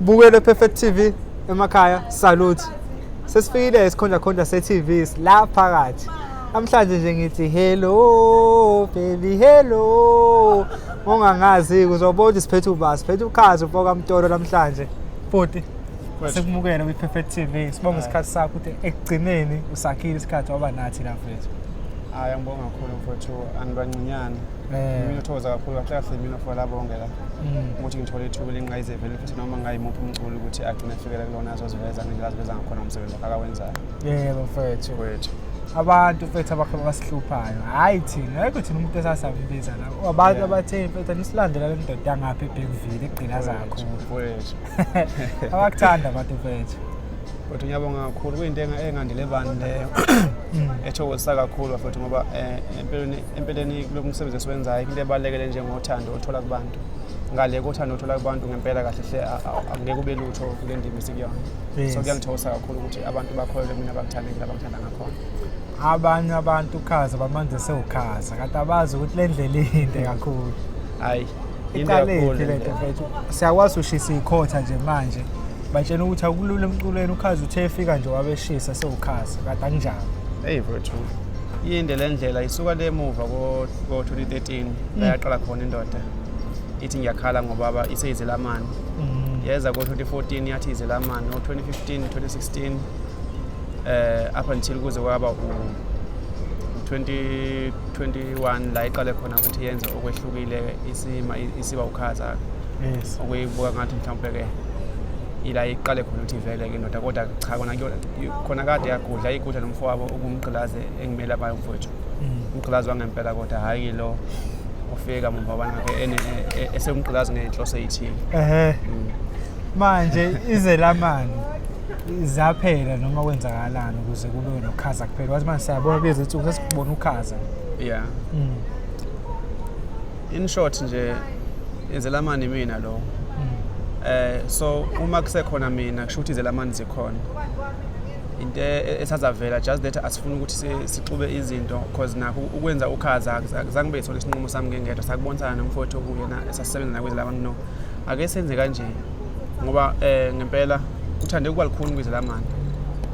Bukele Perfect TV emakhaya salute sesifikile isikhondlakhondla se-tv la phakathi namhlanje nje ngithi hello baby hello ongangazi uzobona ukuthi siphethe uba siphethe ukhazi ufoka mtolo namhlanje futhi sikumukele kwi-perfect tv sibonga isikhathi sakho ukuthi ekugcineni usakhile isikhathi waba nathi lapha hayi angibonga kakhulu mfowethu angibancinyane eh. mina uthokoza kakhulu kahlekahle mina for labo bonke la mm. ukuthi ngithole ithuba elingqayizevele futhi noma ngayimuphi umculi ukuthi agcine efikele kulona azoziveza ngendlela aziveza ngakhona ngomsebenzi wakhe akawenzayo yebo mfowethu wethu abantu mfethu abakhe basihluphayo hhayi thina ayikho thina umuntu esasambiza la abantu abathe mfethu nisilandela le ndoda yangapha ebhekuvile egqilaza kakhulu abakuthanda abantu mfethu futhi ngiyabonga kakhulu kuyinto engandile bani leyo mm. ethokozisa kakhulu bafethu ngoba eh, empeleni kulo msebenzi esiwenzayo into ebalulekele njengothando othola kubantu ngale kothando othola kubantu ngempela kahle hle angeke ube lutho kule ndima esikuyona so kuyangithokoza kakhulu ukuthi abantu bakholelwe mina bakuthandekile abangithanda ngakhona abanye abantu ukhaza bamanzi sewukhaza kanti abazi ukuthi le ndlela inde kakhulu hayi iqalephi le nto mfethu siyakwazi ushisa ikhotha nje manje batshena ukuthi akulula emculweni ukhazi uthe efika nje wabeshisa sewukhazi kade anginjalo eyi mfethu yinde le ndlela isuka le muva ko-2013 la yaqala khona indoda ithi ngiyakhala ngobaba iseyizelamani mm. yeza ko-2014 yathi izelamani o-2015 2016 um eh, up until kuze kwaba u-2021 la iqale khona ukuthi yenze okwehlukile isima isiba ukhaza yes okuyibuka ngathi mhlawumbe ke ila iqale khona ukuthi ivele ke ndoda kodwa cha kona khona kade yagudla igudla nomfowabo ukumgqilaze engimele abayo mfowethu mm. umgqilazi wangempela kodwa hhayi lo ufika mumva banake e, e, esemgqilazi ngenhloso eyithile ehe mm. manje izelamani zaphela noma kwenzakalani ukuze kube nokhaza kuphela wathi manje siyabona bezi nsuku sesikubona ukhaza yeah mm. in short nje izelamani mina lo mm. eh so uma kusekhona mina kusho ukuthi izelamani zikhona into e-, esazavela just that asifuni ukuthi sixube izinto because nakho ukwenza ukhaza akuzange bethole isinqumo sami ngengedwa sakubonisana nomfowethu okuyena esasisebenza nakwezi laba no ake senze kanje ngoba um ngempela kuthande ukuba likhuni kwizelamani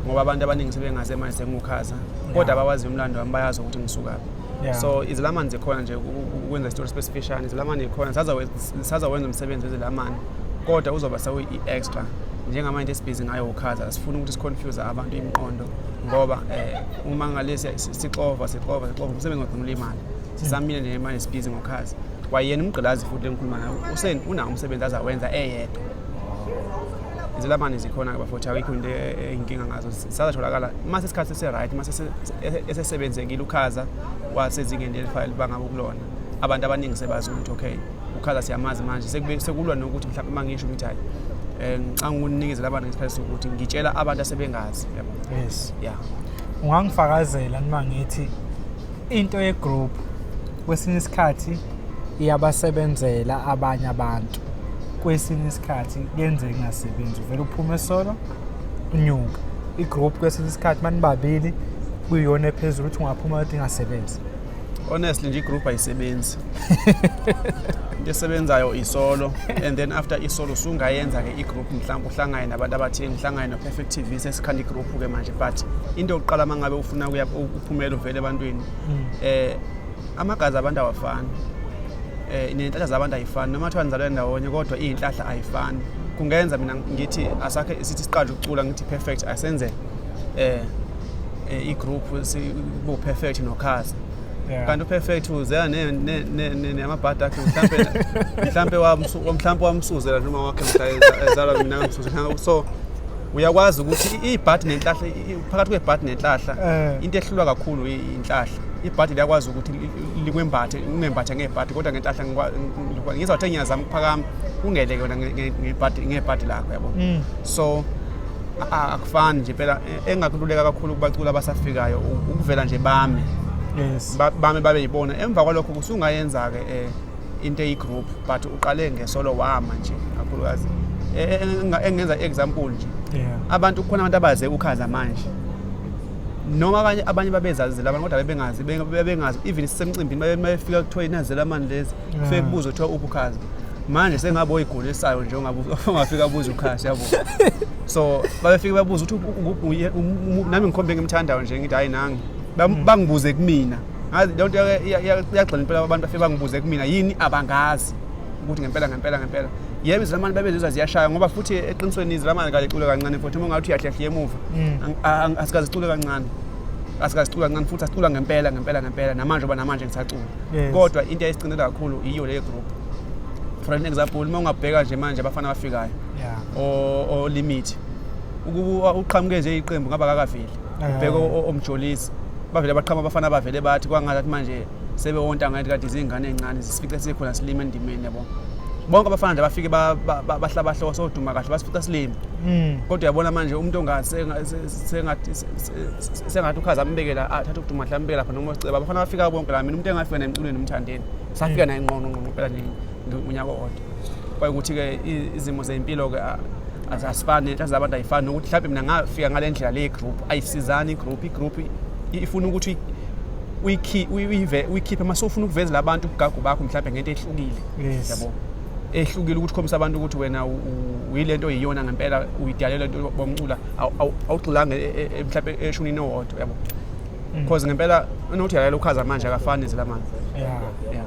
ngoba abantu abaningi sebengazi manje sengukhaza kodwa abawazi umlando wami bayazi ukuthi ngisukaphi Yeah. so izilamani zikhona nje uku- uku- ukwenza isitori sibesifishane izilamani zikhona sazawenza umsebenzi wezilamani kodwa uzoba sewu-i-extra njengamanje into esibhizi ngayo ukhaza asifuni ukuthi siconfuse abantu imiqondo ngoba um uma ngale siya- si- sixova sixova sixova umsebenzi wagcina ulimala sisamile nje manje sibhizi ngokhaza kwayena umgqilazi futhi lengikhuluma nayo usen unawo umsebenzi azawenza eyedwa izilamane zikhona-ke bafowethu awikho into eyinkinga ngazo sisazatholakala uma sesikhathi sise-right uma esesebenzekile ukhaza wasezingeni elifaya libanga kokulona abantu abaningi sebazi ukuthi okay ukhaza siyamazi manje sekulwa nokuthi mhlawumbe uma ngisho ukuthi hayi eh, ngicanga ukunikezela abantu ngesikhathi sokuthi ngitshela abantu asebengazi yes ya ungangifakazela nima ngithi into yegroup kwesinye isikhathi iyabasebenzela abanye abantu kwesinye isikhathi yenze ingasebenzi uvele uphume solo unyuka igroup kwesinye isikhathi manibabili kuyiyona ephezulu ukuthi ungaphuma ukuthi ingasebenzi honestly nje igroup ayisebenzi into esebenzayo isolo and then after isolo sungayenza ke igroup mhlawumbe uhlangane nabantu abathile ngihlangane no-perfect tv sesikhanda igroup-ke manje but into yokuqala uma ngabe ufuna phumela uvele ebantwini mm. eh amagazi abantu awafani eh nenhlahla zabantu ayifani noma kuthiwa nizalwe ndawonye kodwa izinhlahla ayifani kungenza mina ngithi asakhe sithi siqale ukucula ngithi perfect asenze eh, eh i-group sibo perfect nokhasa kanti uperfect uzela namabhadi akhe mhlampe mhlampe wamsuzela noma wakhe mhla ezalwa mina ngamsuzela so uyakwazi ukuthi ibhadi nenhlahla phakathi kwebhadi nenhlahla eh. into ehlulwa kakhulu inhlahla ibhadi liyakwazi ukuthi likwembathe ungembathe ngebhadi kodwa ngenhlahla ngizwa kuthe ngiyazama ukuphakama ungeleke wena ngebhadi lakho yabo mm. so akufani nje phela e, engakululeka kakhulu kubaculi abasafikayo ukuvela nje bame yes bame babe yibona emva kwalokho kusungayenza-ke um eh, into eyigroup but uqale ngesolo wama nje kakhulukazi E- e- enga- engenza i-example nje yeah abantu kukhona abantu abaze ukhaza manje noma abanye abanye babezazile abantu kodwa bebengazi be- bebengazi even sisemcimbini babe- babefika kuthiwa inazela mani lezi Yeah. kufike kubuza kuthiwa uphi ukhaza manje sengabe oyigulisayo nje ongabu- ongafika abuze ukhaza yabo so babefike babuza ukuthi u- u- u- uye- um- um- nami ngikhombe engimthandayo nje ngithi hayi nangi Bam- bangibuze kumina ngazi leyo nto iyagxila impela abantu bafike bangibuze kumina yini abangazi ukuthi ngempela ngempela ngempela yebo izilamane babezizwa ziyashaya ngoba futhi eqinisweni izilamane kalicule kancane futhi uma ungathi uyahlehliya emuva mm. asikazicule kancane asikazicula kancane futhi asicula ngempela ngempela ngempela namanje oba namanje ngisacula kodwa into eyayisigcinile kakhulu yiyo leyo group for an example uma ungabheka nje manje abafana abafikayo olimit ukuba uqhamuke nje iqembu ngaba kakaveli ubheke o- o- omjolisi bavele baqhama abafana bavele bathi kwangathi manje sebewonta ngathi kade izingane ezincane zisifice sikhona silima endimeni yabo bonke abafana nje bafike ba- ba- ba- bahlaba hloko soduma kahle basifica silima Mm. kodwa uyabona manje umuntu ongathi senga- se- se- sengathi se- se- se- sengathi ukhaza ambekela athathe ukuduma hle ambekela khona uma siceba abafana bafika bonke la mina umuntu engafika naye emculweni umthandeni safika naye ngqongqongqo phela nje unyaka owodwa kwayukuthi-ke izimo zempilo-ke azifani inhlanhla zabantu ayifani nokuthi mhlawumbe mina ngafika ngale ndlela le group ayisizani igroup igroup ifuna ukuthi uyikhiphe uma sofuna ukuvezela abantu ubugagu bakho mhlawumbe ngento ehlukile yabo ehlukile ukuthi ukhombisa abantu ukuthi wena uyile nto yiyona ngempela uyidalele into bomcula awugxilanga e, e, e, mhlawumbe eshunini owodwa yabo because mm. ngempela unothi yalalela ukhaza manje akafani nezilamanje yeah yeah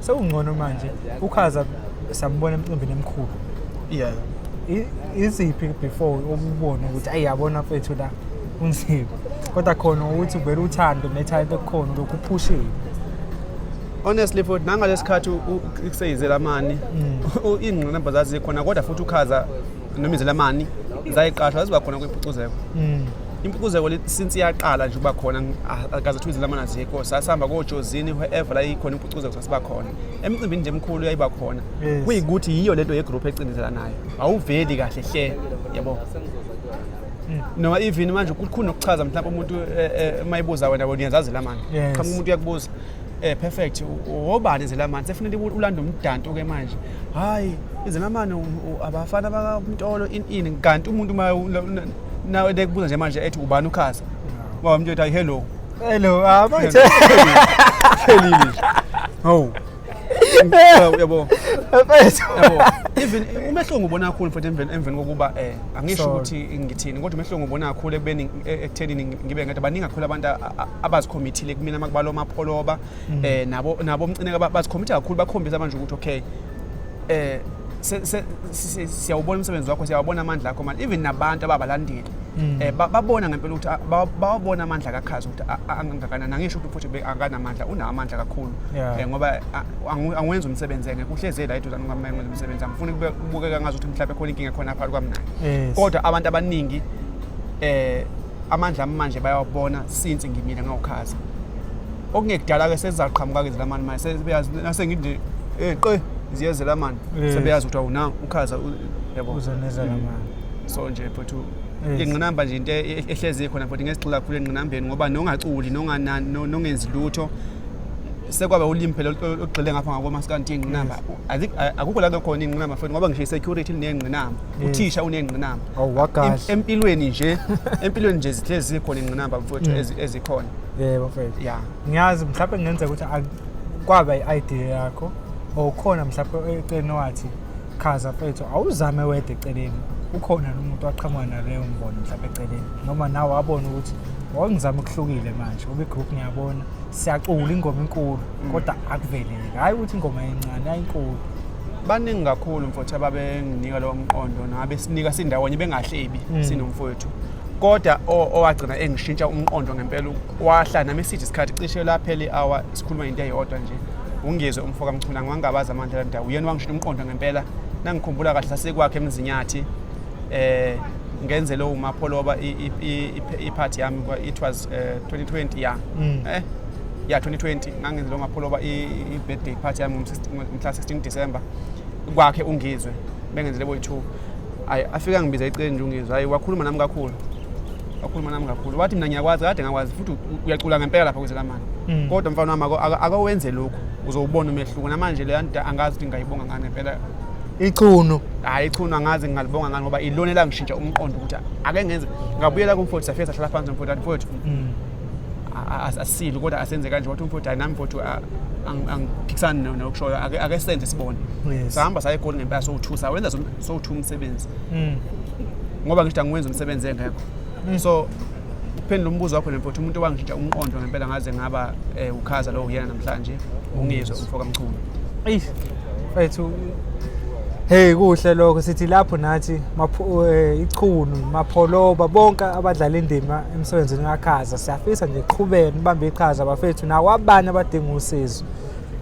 Sewungcono manje ukhaza sambona emcimbini emkhulu. Yeah. Iziphi before ukubona ukuthi ayiyabona mfethu la unzima. Kodwa khona ukuthi uvela uthando netalent ekukhona lokhu uphushile. honestly futhi nangalesikhathi kuseyizela mani mm. ingqinamba zazikhona kodwa futhi ukhaza noma izelamani zayiqashwa zaziba khona kwimpucuzeko mm. impucuzeko since iyaqala nje uba khona akaze kuthiwa izelamani azikho sasihamba kojozini whoever la ikhona impucuzeko sasiba khona emicimbini nje emkhulu yayiba khona kuyikuthi yiyo lento yegroup ecindezelanayo awuveli kahle hle yabo mm. noma even manje kukhulu nokuchaza mhlawumbe umuntu uma eh, eh, ibuza wena wena uyazazi lamani qhamuka umuntu uyakubuza Eh perfect. Wobani izelamani sefunele ulanda umdanto ke manje. Hayi izelamani abafana bakamtolo in in kanti umuntu uma nawe dekubuza nje manje ethi ubani ukhasa. Ngoba mntu ethi hello. Hello. Ah manje. Hello. Oh. Yabo. Perfect. Yabo. Even umehlo ngubona kakhulu mfethu emveni emveni kokuba eh angisho ukuthi ngithini kodwa umehlo ngubona kakhulu ekubeni eh, ekuthenini ngibe ngathi baningi kakhulu abantu abazikhommithile kumina makubalo mapholoba mm. eh nabo nabo umcineka bazikhomitha kakhulu bakhombisa manje ukuthi okay eh siyawubona umsebenzi wakho siyawabona amandla akho manje even nabantu ababalandeli mm. eh babona ngempela ukuthi bawabona amandla kakhazi ukuthi angakanani angisho ukuthi futhi akanamandla unamandla kakhulu eh ngoba angiwenza umsebenzi yena kuhleze la eduzana ngamenza umsebenzi angifuni kubukeka ngazi ukuthi mhlawumbe khona inkinga khona phakathi kwami naye eh. kodwa abantu abaningi eh amandla ami manje bayawabona since ngimile ngawukhaza okungekudala-ke sezizaqhamuka-ke zilamani manje sebeyazi nasengithi eh qe ziyezela mani Yes. sebeyazi ukuthi awuna ukhaza u- yabo uzonezela mani so nje futhi Yes. ingqinamba nje into e- ehlezi khona futhi ngesigxila kakhulu engqinambeni ngoba nongaculi nongana- no- nongenzi lutho sekwaba ulimi phela olu- olugxile ngapha ngakomasikandi ingqinamba Azi- a- akukho la khona ingqinamba futhi ngoba ngisho i-security linengqinamba Mm. uthisha unengqinamba Oh, Im- wakahle. empilweni nje empilweni nje zihlezi zikhona ingqinamba mfowethu Mm. ezi- ezikhona yebo mfethu ya ngiyazi mhlawumbe kungenzeka ukuthi ak- kwaba i-idea yakho or khona mhlawumbe eceleni wathi chaza mfethu awuzame wedwa eceleni ukhona nomuntu waqhamuka naleyo mbono mhlawumbe eceleni noma nawe wabona ukuthi wawungizama ukuhlukile manje ube group ngiyabona siyacula ingoma inkulu kodwa akuveleli hhayi ukuthi ingoma encane ayinkulu baningi kakhulu mfowethu ababenginika lowo mqondo nabesinika sindawonye bengahlebi mm. sinomfowethu kodwa owagcina engishintsha umqondo ngempela wahla nami sithi isikhathi cishe laphele i-hour sikhuluma into eyodwa nje ungizwe umfoka mchuna ngiwangabazi amandla la ndawo uyena wangishintsha umqondo ngempela nangikhumbula kahle sasekwakhe emzinyathi eh ngenze lowo mapholoba iphathi yami it was 2020 eh, ya mm. eh ya 2020 ngangenze lo ngapholoba i-birthday party yami ngomhla 16 December kwakhe ungizwe bengenzele boyi-2 ayi afika ngibiza iqenje ungizwe hayi wakhuluma nami kakhulu wakhuluma nami kakhulu wathi mina ngiyakwazi kade ngakwazi futhi uyacula ngempela lapha kwezelamani mm. kodwa mfana wami akawenze lokhu uzowubona umehluko namanje leyo nto angazi ukuthi ngingayibonga ngani impela ichunu hayi ichunu angazi ngingalibonga ngani ngoba ilona elangishintsha umqondo ukuthi ake ngenze ngabuyela kumfowethu safika sahlala phansi nomfowethu athi mfowethu mm. asile kodwa asenze kanje wathi umfowethu hayi nami mfowethu angiphikisani nokushoyo ake senze sibone sahamba saya egoli ngempela sowu-two sawenza sowu-two umsebenzi hmm. ngoba ngisho angiwenza umsebenzi engekho hmm. so ukuphendula umbuzo wakho nemfowethu umuntu owangishintsha umqondo ngempela ngaze ngaba um ukhaza lowo uyena namhlanje ungizwe umfo kamchunu Mfethu Hey kuhle lokho sithi lapho nathi eh, ichunu mapholoba bonke abadlala indima emsebenzini kakhaza siyafisa nje qhubeke nibambe iqhaza bafethu nawo abanye abadinga usizo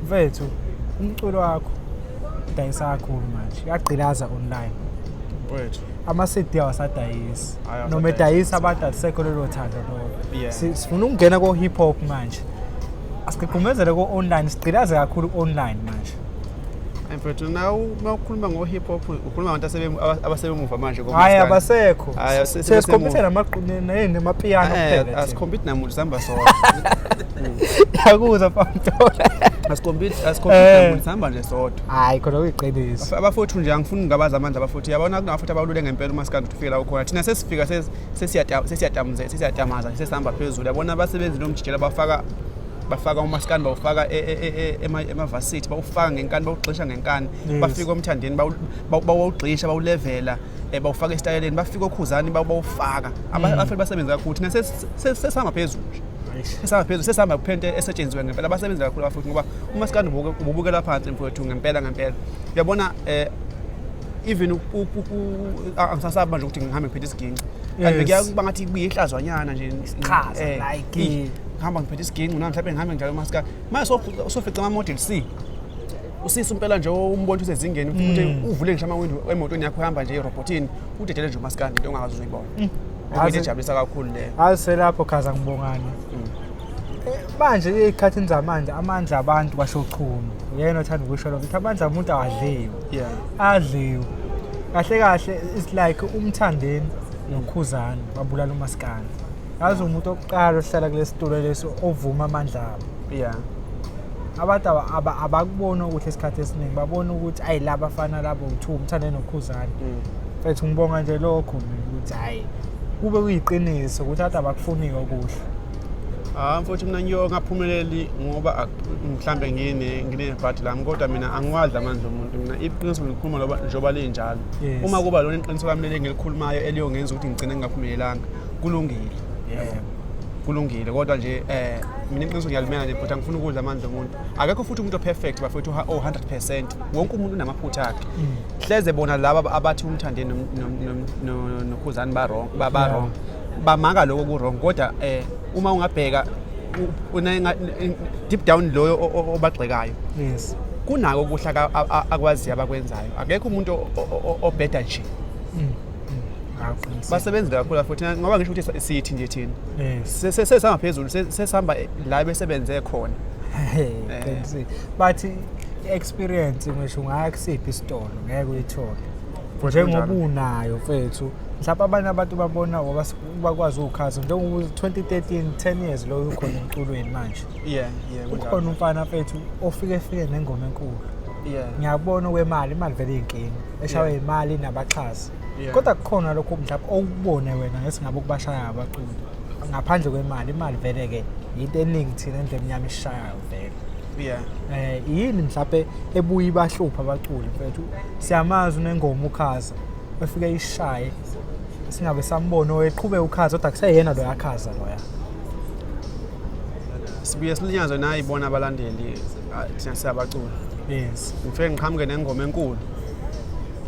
mfethu umculo wakho dayisa kakhulu manje uyagqilaza online mfethu ama-cd awasadayisi noma edayisa abantu alisekho lelo thando lolo sifuna ukungena ko-hip hop manje asigqigqumezele ko-online sigqilaze kakhulu ku-online manje mfethu na uma ukhuluma ngo-hip hop ukhuluma abantu abasebemuva manje hhayi abasekho sesikhompyutha namapiyano eh, asikhompyuthi namuntu sihamba sona yakuzwa pamtola eh. sihamba nje sodwa hayi khona kuyiqiniso abafowethu nje angifuni ngabazi amandla abafowethu yabona kunabafowethu abalule ngempela uma sikade ukuthi ufike la ukhona thina sesifika sesiyatamaza sesihamba phezulu yabona abasebenzi nomjikela bafaka bafaka umaskani bawufaka e, e, e, emavasithi bawufaka ngenkani bawugxisha ngenkani bafike omthandeni bawugxisha bawulevela um bawufaka esitayeleni bafike okhuzani bawufaka mm. abafeli basebenzi kakhulu thina sesihamba phezulu sesihamba phezulu sesihamba kuphento esetshenziwe ngempela abasebenzi kakhulu abafuthi ngoba umaskani ububukela phansi mfowethu ngempela ngempela uyabona um even angisasabi manje ukuthi ngihambe ngiphethe isiginci kanti bekuyakuba ngathi kubiye ihlazwanyana nje iqhaza eh, like ngihamba ngiphethe isiginci nami mhlawumbe ngihambe ngidlala umaskari manje sofica ama-model c usisi impela nje umbona usezingeni futhi mm. uvule ngisho amawindi emotweni yakho uhamba nje irobotini udedele nje umaskari into ongakazi uzuyibona mm. into ejabulisa kakhulu leyo hayi selapho khaza ngibongani mm. eh, manje ey'khathini zamanje amandla abantu kwashochuma uyena othanda ukusho lokho ukuthi amandla omuntu awadliwe yeah adliwe kahle kahle it's like umthandeni nokhuzana babulala umaskana yazi umuntu okuqala ohlala kulesitulo lesi ovuma amandla abo yeah abantu abakubona ukuthi isikhathi esiningi babona ukuthi ayi laba fana labo uthiwa umthande nokhuzane mfethu mm. ngibonga nje lokho mina ukuthi hhayi kube kuyiqiniso ukuthi abantu abakufuni-ke okuhle Ah mfowethu mina ngiyongaphumeleli ngoba mhlambe ngine nginebhadi lami kodwa mina angiwadli amandla omuntu mina iqiniso ngikhuluma loba njoba linjalo uma kuba lona iqiniso lami leli ngilikhulumayo eliyongenza ukuthi ngigcine ngingaphumelelanga kulungile yebo kulungile kodwa nje eh mina iqiniso ngiyalimela nje but angifuni ukudla amandla omuntu akekho futhi umuntu operfect bafethu o 100% wonke umuntu unamaphutha akhe mm. hleze bona laba abathi umthande nokhuzani ba-wrong ba-wrong bamanga lokho ku-wrong kodwa um uma ungabheka deep down loyo obagxekayo yes kunako ukuhla akwaziyo abakwenzayo akekho umuntu obheda nje mm. basebenzi kakhulu futhi ngoba ngisho ukuthi sithi nje thina sesihamba phezulu sesihamba la besebenze khona eh. but experience ngisho ungaya kusiphi isitolo ngeke uyithole njengoba unayo mfethu mhlawumbe abanye abantu babona ngoba bakwazi ukukhaza njengoba 2013 10 years loyo ukhona emculweni manje yeah yeah kukhona umfana mfethu ofike efike nengoma enkulu ngiyabona kwemali imali vele iyinkinga eshawe imali nabaxhasi Yeah. kodwa kukhona lokho mhlawumbe okubone wena ngesingabe ukubashaya ngabaculi ngaphandle kwemali imali vele-ke yinto eningi thina endlu emnyama isishayayo vele Yeah. eh yini mhlawumbe ebuye ibahlupha abaculi mfethu siyamazi unengoma ukhaza efike ishaye singabe sambona oweqhube ukhaza kodwa kuseyena lo yakhaza loya Sibuye silinyazwe nayi bona abalandeli ah, thina siyabacula. yes Ngifike ngiqhamuke nengoma enkulu.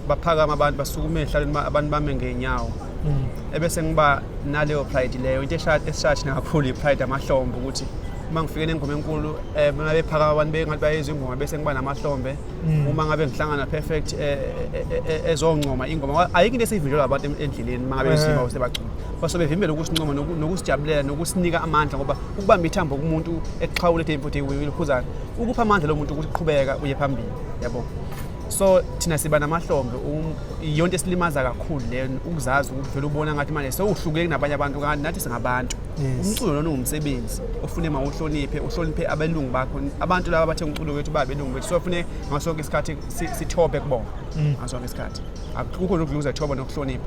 baphakama abantu basukume ehlalweni abantu bame ngeenyawo mm. ebese ngiba naleyo pride leyo into esishathi nakakhulu i-pride amahlombe ukuthi uma ngifike nengoma enkulu um eh, uma bephakama abantu bengathi bayezwa ingoma bese ngiba namahlombe mm. uma ngabe ngihlangana perfect eh, eh, ezoncoma ingoma ayikho into esiyivinjelwa abantu endleleni uma ngabe besima bese bacula base bevimbela ukusincoma nokusijabulela nokusinika amandla ngoba ukubamba ithambo kumuntu exhawule ethe mfuthi uyiphuzana ukupha amandla lo muntu ukuthi qhubeka uye phambili yabo so thina siba namahlombe um, yonto esilimaza kakhulu le ukuzazi ukuthi vele ubona ngathi manje sewuhlukile kunabanye abantu kanti nathi singabantu umculo lona ungumsebenzi ofune ma uhloniphe uhloniphe abelungu bakho abantu laba bathe umculo wethu ba belungu bethu so fune ngaso sonke isikhathi sithobe kubona mm. ngaso sonke isikhathi akukho nokudluza thoba nokuhlonipha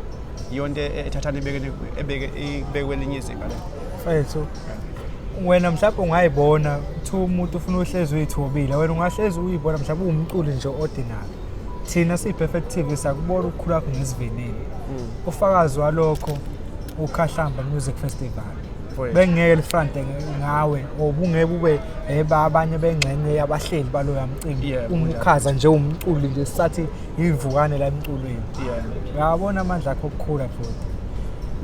yonto e-, ethathana ebeke ebeke ibekwe linye izinga la mfethu wena mhlawumbe ungayibona kuthiwa umuntu ufuna uhlezi uyithobile wena ungahlezi uyibona mhlawumbe uwumculi nje ordinary thina siyi-perfect tv sakubona ukukhulu kwakho ngesivinini mm. ufakazi walokho ukhahlamba music festival bengeke lifrante ngawe obungeke ube eba abanye bengxenye yabahleli baloya mcimbi umukhaza nje umculi nje sathi Yivukane la emculweni. Yeah. Uyawabona amandla akho okukhula futhi.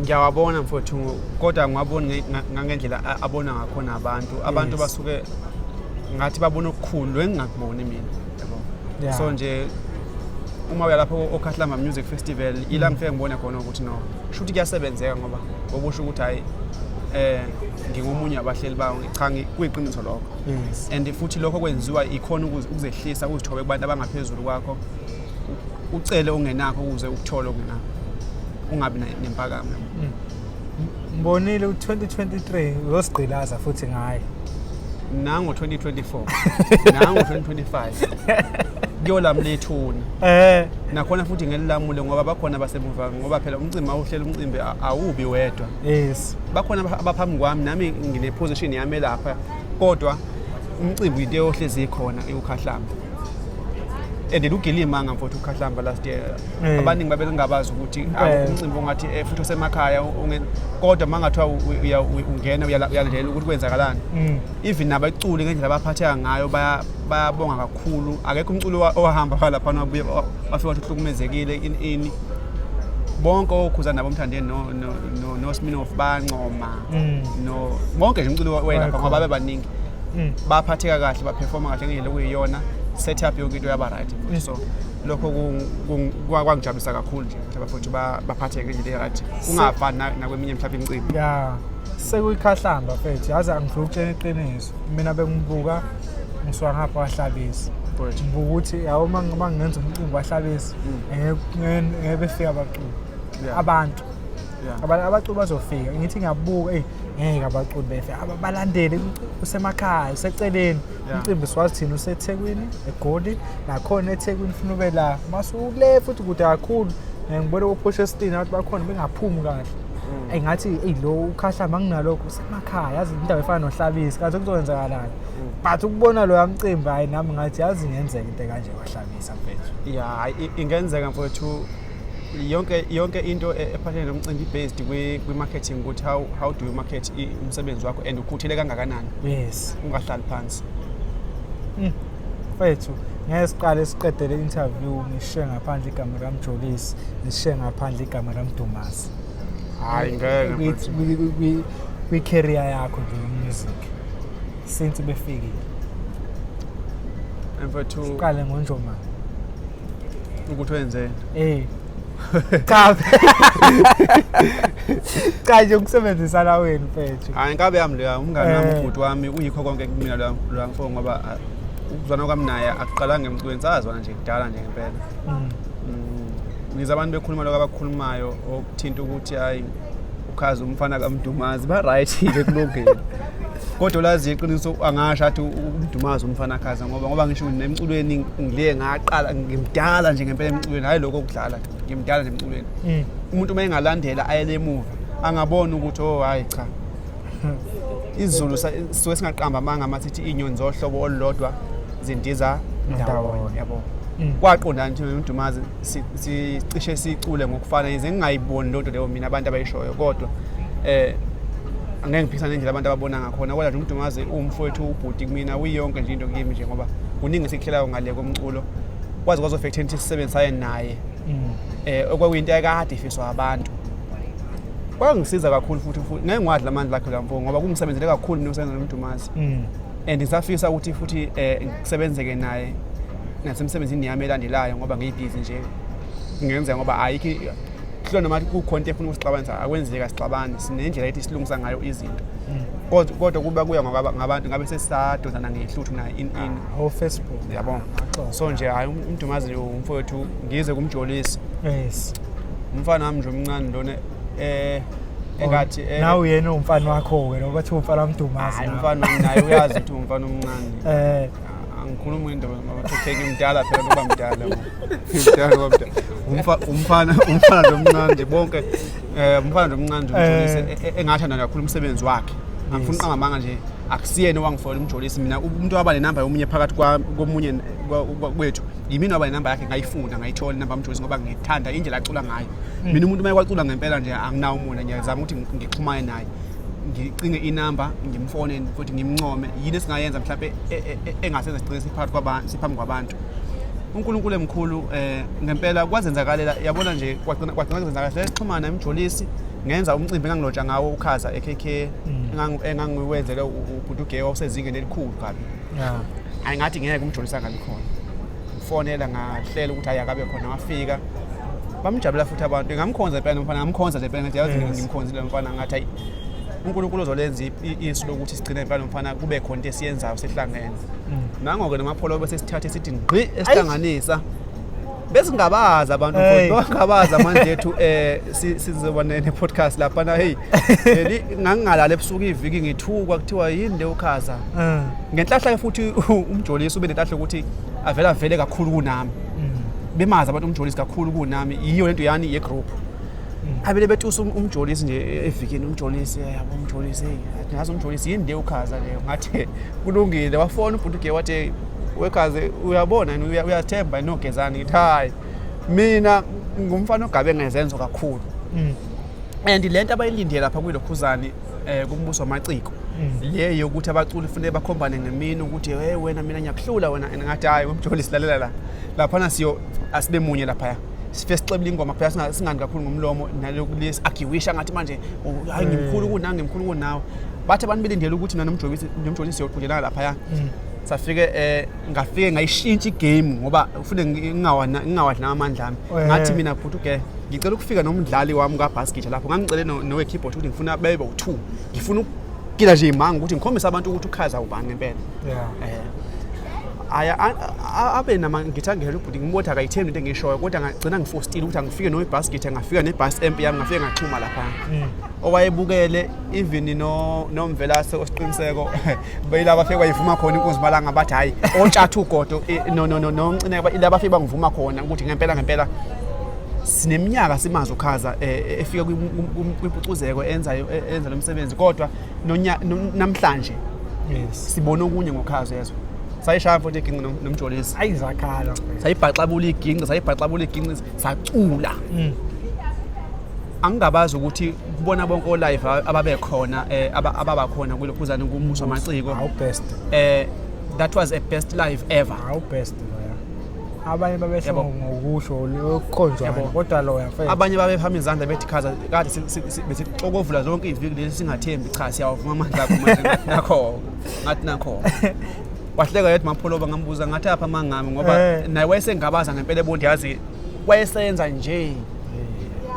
Ngiyawabona mfowethu kodwa ngwabona ngangendlela abona ngakhona abantu. Abantu basuke ngathi babona okukhulu engingakuboni mina. Yabo. So nje uma uya lapho okhahlamba music festival ila ngifike ngibone khona ukuthi no shuthi kuyasebenzeka ngoba okusho ukuthi hayi eh ngingomunye abahleli bawo cha kuyiqiniso lokho yes. and futhi lokho kwenziwa ikhona ukuzehlisa uzithobe kubantu abangaphezulu kwakho ucele ongenakho ukuze ukuthole okunakho ungabi nempakamo mm. mbonile u-2023 uyosigqilaza futhi ngaye nango 2024 nango 2025 kuyolamlethuna eh nakhona futhi ngelilamule ngoba bakhona basemuva ngoba phela umcimbi awuhlela umcimbi awubi wedwa yes bakhona abaphambi kwami nami ngine position yami lapha kodwa umcimbi into eyohlezi ikhona iwukhahlamba and lugilima ngamfotho ukhahlamba last year Eh. abaningi babelingabazi ukuthi Eh. awu, umcimbi ongathi eh, futhi osemakhaya unge- kodwa uma ngathiwa u- u- uya- u- ungena uyala- uyalandela ukuthi kwenzakalani Mm. even nabaculi ngendlela abaphatheka ngayo baya- bayabonga kakhulu akekho umculi owa- owahamba phalaphana wabuye wa- wafika wathi uhlukumezekile ini ini bonke okhuza nabo omthandeni no- no no Sminoff bancoma Mm. no bonke nje umculo wayelapha Bayakhona. ngoba babe baningi Mm. baphatheka kahle baperforma kahle ngendlela okuyiyona setup yonke into yaba right futhi. so lokho ku- ku- kwa- kwangijabulisa kakhulu nje ukuthi abafuthi ba- baphatheke ngendlela e-right kungafani na- nakweminye mhlawumbe imicimbi ya sekuyikhahlamba mfethu yazi angifuna ukutshela iqiniso mina bengibuka ngisuka ngapha wahlabisa Right. ngibuka ukuthi yawo uma ngenza umcimbi wahlabisa ngeke- ngeke ngeke befika abaculi Yeah. abantu Yeah. Aba- abaculi bazofika ngithi ngiyabuka eyi ngeke abaculi befe Aba- balandele umcimbi usemakhaya useceleni Yeah. umcimbi siwazi thina usethekwini egoli nakhona ethekwini funa ube la masukule futhi kude kakhulu Eh, ngibone kophosha esitini abantu bakhona bengaphumi kahle Mm. eyi ngathi eyi lo ukhahla manginalokho usemakhaya yazi indawo efana nohlabisi kanti kuzokwenzakalani Mm. but ukubona loya mcimbi hhayi nami ngathi yazi ingenzeka into ekanje kwahlabisa mfethu Yeah, i- ingenzeka mfowethu yonke yonke into e, ephathelene nomcimbi based kwi-marketing ukuthi how, how do you market umsebenzi wakho and ukhuthele kangakanani yes ungahlali phansi mm. fethu ngeke siqale siqede le interview ngishiye ngaphandle igama likamjolisi ngishiye ngaphandle igama likamdumasi hayi ngeke kwi-career yakho nje yomusic since befikile mfethu siqale ngonjomane ukuthi wenzeni eh cha cha nje ukusebenzisana wenu mfethu hayi inkabe yami leya umngane wami Eh. ubhuti wami uyikho konke kumina loya loya mfo ngoba ah, ukuzwana kwami naye akuqalanga emculweni sazwana nje kudala nje ngempela Mm. Mm, ngiza abantu bekhuluma lokho abakukhulumayo okuthinta ukuthi hayi ukhazi umfana kamdumazi ba-right-ke kulungile kodwa lazi iqiniso angasho athi umdumazi umfana khaza ngoba ngoba ngisho nemculweni ngile ngaqala ngimdala nje ngempela emculweni hhayi lokho kudlala ngimdala nje emculweni mm. umuntu uma engalandela ayele emuva angabona ukuthi o oh, hhayi cha izulu sisuke singaqamba amanga uma sithi iy'nyoni zohlobo olulodwa zindiza ndawonye yabo mm. kwaqonda nje umdumazi sicishe sicule ngokufana yize ngingayiboni loo nto leyo mina abantu abayishoyo kodwa um angeke ngiphikisane nendlela abantu ababona ngakhona kodwa nje umdumazi uwumfowethu ubhuti kumina uyiyonke nje into kimi nje ngoba kuningi esikuhlelayo ngale komculo kwaze kwazofektha into sisebenzisayo naye um okwakuyinto yakade ifiswa abantu kwangisiza kakhulu futhi futhi ngeke ngiwadla amandla akhe la mfo ngoba kungisebenzele kakhulu mina usebenza nomdumazi mm. and ngisafisa ukuthi futhi um eh, ngisebenzeke naye nasemsebenzini yami elandelayo ngoba ngiyibhizi nje ngenzeka ngoba ayikho kuhlona noma kukhona into efuna ukusixabanisa akwenzeka sixabane sinendlela ethi silungisa ngayo izinto mm. kodwa kodwa kuba kuya ngabantu ngabe sesadozana ngehluthu naye in in ah, o Facebook yabona so nje hayi umdumazi umfowethu ngize kumjolisi yes umfana wami nje omncane lona eh engathi eh, nawe uyena umfana wakho ke lokho kuthiwa umfana wamdumazi hayi umfana naye uyazi ukuthi umfana omncane eh angikhuluma indaba mabathetheke mdala phela kuba mdala mdala kuba mdala umfana umfana lomncane nje bonke eh umfana lomncane nje umjolise eh. e, e, engathanda kakhulu umsebenzi wakhe angifuni uqangamanga nje akusiyena owangifola umjolisi mina umuntu waba nenamba yomunye phakathi komunye kwethu yimina waba nenamba yakhe ngayifunda ngayithola inamba yomjolisi ngoba ngithanda indlela acula ngayo mina umuntu uma kwacula ngempela nje anginawo umona ngiyazama ukuthi ngixhumane naye ngicinge inamba ngimfone futhi ngimncome yini esingayenza mhlawumbe e, e, e, engasenza sigcine siphambi kwabantu siphambi kwabantu uNkulunkulu emkhulu eh ngempela kwazenzakalela yabona nje kwagcina kwagcina kwazenzakalela sexhumana emjolisi ngenza umcimbi engangiloja ngawo ukhaza eKK mm. engangiwenzele ubhuti uGay osezingeni elikhulu kabi yeah ayingathi ngeke umjolisa kabi khona ngifonela ngahlela ukuthi ayakabe khona wafika bamjabula futhi abantu ngamkhonza impela nomfana ngamkhonza nje impela ngathi yazi yes. ngimkhonzile nomfana ngathi ayi uNkulunkulu uzolenza isu lokuthi sigcine impela nomfana kube khona into esiyenzayo sihlangene mm. nango-ke namapholo bese sithathe sithi ngqi esihlanganisa besingabazi abantu futhi bangabazi manje ethu eh sizoba ne podcast lapha na hey leli ngangingalala ebusuku iviki ngithukwa kuthiwa yini le ukhaza ah. ngenhlahla ke futhi umjolisi ube nenhlahla ukuthi avela vele kakhulu kunami bemazi abantu umjolisi kakhulu kunami yiyo lento yani ye group mm. abele betusa um-, umjolisi nje e-, evikini umjolisi eh, yabo umjolisi hey ngathi umjolisi yini le ukhaza leyo ngathi kulungile wafona ubhuti ke wathi wekhaze uyabona uyathemba inogezani ngithi hayi mina ngumfana ogabe ngezenzo kakhulu mm. and le nto abayilindele lapha kwilokhuzane um kumbuso wamaciko mm. le yokuthi abaculi funeke bakhombane ngemini ukuthi hey wena mina ngiyakuhlula wena and ngathi hhayi wemjoli silalela la laphana siyo asibe munye laphaya sife sixebile ingoma kuphela singani kakhulu ngomlomo nalokulesi agiwisha ngathi manje oh, hayi ngimkhulu mm. kunawe ngimkhulu kunawe bathi abantu belindele ukuthi mina nomjolisi siyoqhudelana laphaya mm. safike eh ngafike ngayishintsha igame ngoba ufune ngingawadla amandla ami ngathi mina bhuti ugele ngicela ukufika nomdlali wami kabhasketha lapho ngangicele nowe-keyboard ukuthi ngifuna bebe u-two ngifuna ukugila nje imanga ukuthi ngikhombise abantu ukuthi ukhaza ubani ngempela eh, aya abe nama ngithi angihela ubhuti ngimbothi akayithembi into engishoyo kodwa ngagcina ngifostile ukuthi angifike nowe-basket ngafika ne-bus amp yami ngafike ngaxhuma lapha mm. owayebukele even nomvelase osiqiniseko bayila bafike bayivuma khona inkunzi malanga bathi hhayi ontshatha ugodo eh, no no no no ncineka ila bafike bangivuma khona ukuthi ngempela ngempela sineminyaka simazi ukhaza eh, eh, efika kwimpucuzeko enza enza lomsebenzi kodwa namhlanje yes sibona okunye ngokhaza yezwa sayishaya futhi iginqi nomjolisi ayi zakhala sayibhaxabula iginqi sayibhaxabula iginqi sacula mm. angingabazi ukuthi kubona bonke olive ababekhona eh, ababakhona kulokhuzane kumuswa amaciko how best eh that was a best live ever how best abanye babesho ngokusho lokhonjwa kodwa lo yafela abanye babephama izandla bethi khaza kade bethi xokovula zonke iviki lesi singathembi cha siyawavuma amandla akho manje nakho ngathi nakho wahleka yedwa mapholoba ngambuza ngathi apha mangami ngoba eh. naye wayesengabaza ngempela ebondiyazi wayesenza nje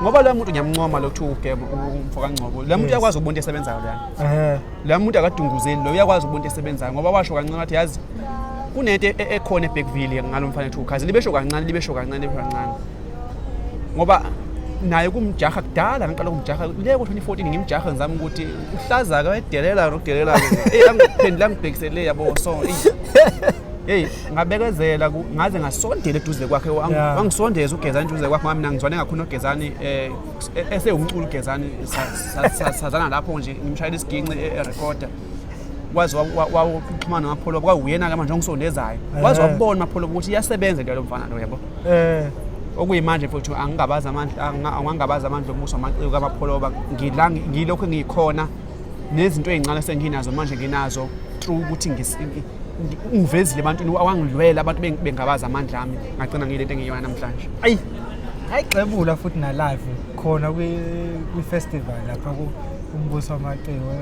ngoba lo muntu ngiyamuncoma lo kuthiwa ugema umfo kangcobo lo muntu uyakwazi ukubona into esebenzayo lana lo muntu akadunguzeli lo uyakwazi ukubona into esebenzayo ngoba washo kancane wathi yazi kunento e-, e-, ekhona ebackville ngalo mfana ethiwa ukhazi libesho kancane libesho kancane libesho kancane ngoba naye kumjaha kudala ngiqala kumjaha le ko-2014 ngimjaha ngizama ukuthi uhlaza-ke wayedelela nokudelela-ke eyi angiphendula ngibhekisele yabo so eyi Hey, ngabekezela ku- ngaze ngasondela eduze kwakhe wang- Yeah. wangisondeza ugezani eduze kwakhe ngoba mina ngizwane kakhulu nogezani eh, e- esewumculo ugezani sa- sa- sa- sazana lapho nje ngimshayela isiginci e- erekoda waze wa- wa- wa- uxhumana nomapholo kwawuyena ke manje ongisondezayo waze Eh. wabona mapholo ukuthi iyasebenza into yalo mfana lo yabo Eh, okuyimanje futhi angingabazi amandla angingabazi amandla omusa amaciko kamapholoba ngilokhu ngikhona nezinto ezincane esenginazo manje nginazo through ukuthi ngivezile ebantwini awangilwela abantu bengabaza amandla ami ngagcina ngile nto engiyona namhlanje ayi ayigxebula futhi na live khona kwi festival lapha ku umbuso wamaciko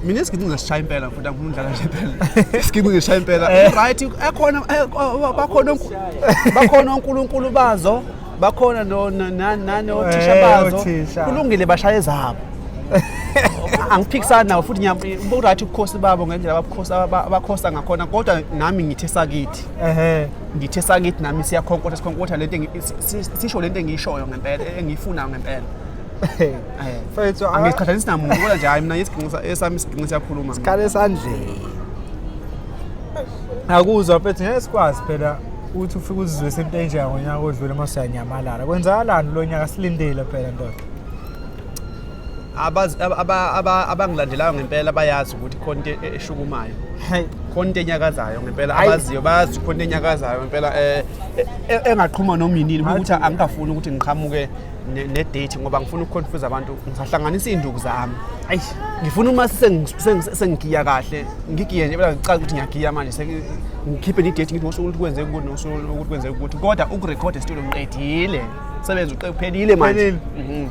mina isigidi ngisishaya impela futhi angifuni udlala nje impela isigidi ngisishaya impela eh. right ekhona eh, bakhona bakhona onkulunkulu bazo bakhona no- no- na- nani Eh, othisha bazo othisha. kulungile bashaye zabo angiphikisani nawo futhi ngiyam- bu-right ubukhosi babo ngendlela ababukhosi- aba- abakhosa ngakhona kodwa nami ngithe sakithi ehe ngithe sakithi nami siyakhonkotha sikhonkotha lento engi- si- si- sisho lento engiyishoyo ngempela engiyifunayo ngempela Eh, Mfethu, ah. angiqhathanisi namuntu kodwa nje hayi mina isiginqi sa- esami isiginqi siyakhuluma mina. khala esandleni akuzwa mfethu ngeke sikwazi phela uthi ufike uzizwise into enjeya ngonyaka odlule uma siyanyamalala kwenzakalani kulo nyaka silindile phela ndoda abangilandelayo ngempela bayazi ukuthi khona into e-, eshukumayo khona into enyakazayo ngempela abaziyo bayazi khona into enyakazayo ngempela um engaqhuma noma yinini ukuthi angingafuni ukuthi ngiqhamuke nedate ngoba ngifuna ukuconfuse abantu ngisahlanganisa iy'nduku zami ayi ngifuna uma sengigiya kahle ngigiye nje bela ngicaza ukuthi ngiyagiya manje ngikhiphe nedate ngithi ngosuku ukuthi kwenzeka ukuthi ngosuku ukuthi kwenzeka ukuthi kodwa ukurekhoda esitulo ngiqedile sebenza uqephelile manje mhm.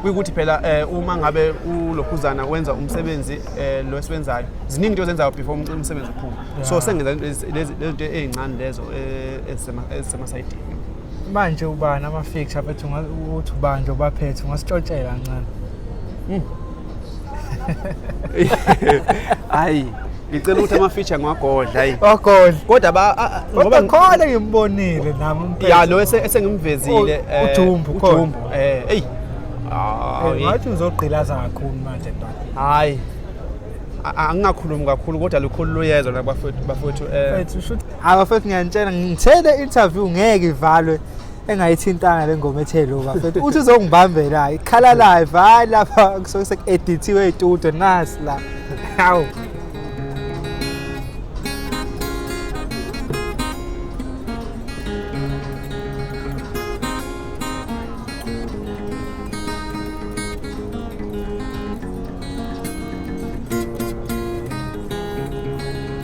kuyikuthi phela eh, uma ngabe ulokhuzana wenza umsebenzi eh, lo esiwenzayo ziningi into ozenzayo before umsebenzi uphume so sengenza lezi zinto ey'ncane lezo eh, ezisemasayidini manje ubani ama-fixture aphethe ukuthi ubanje ubaphethe ungasitshotshela kancane hmm. hayi ngicela ukuthi ama-feature ngiwagodla ayi wagodla kodwa ngoba khona ngimbonile nami ya lo esengimvezile oh, eh, ujumbu ujumbu eh eyi eh, ngathi uzogqilaza kakhulu manje ndoda hayi angingakhulumi kakhulu kodwa lukhulu luyezwa bafowethu um Hayi bafethu ngiyanitshela ngithe le interview ngeke ivalwe engayithintanga le ngoma ethe lo bafethu uthi uzongibambela ikhala live hayi lapha kusuke sekuedithiwe itude nasi la hawu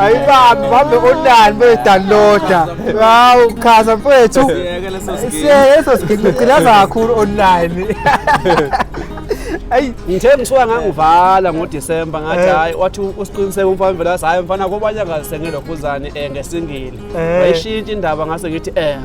ayibambi bambe onani beyidownloada hawu chaza mfethu siyeke leso sigidi ngigcilaza kakhulu online ayi ngithe msuka ngangivala ngodisemba ngathi eh. hayi wathi usiqiniseke umfana vele wathi hayi mfana kobanye angasengelwa khuzane um eh, ngesingile eh. wayishintsha indaba ngase ngithi um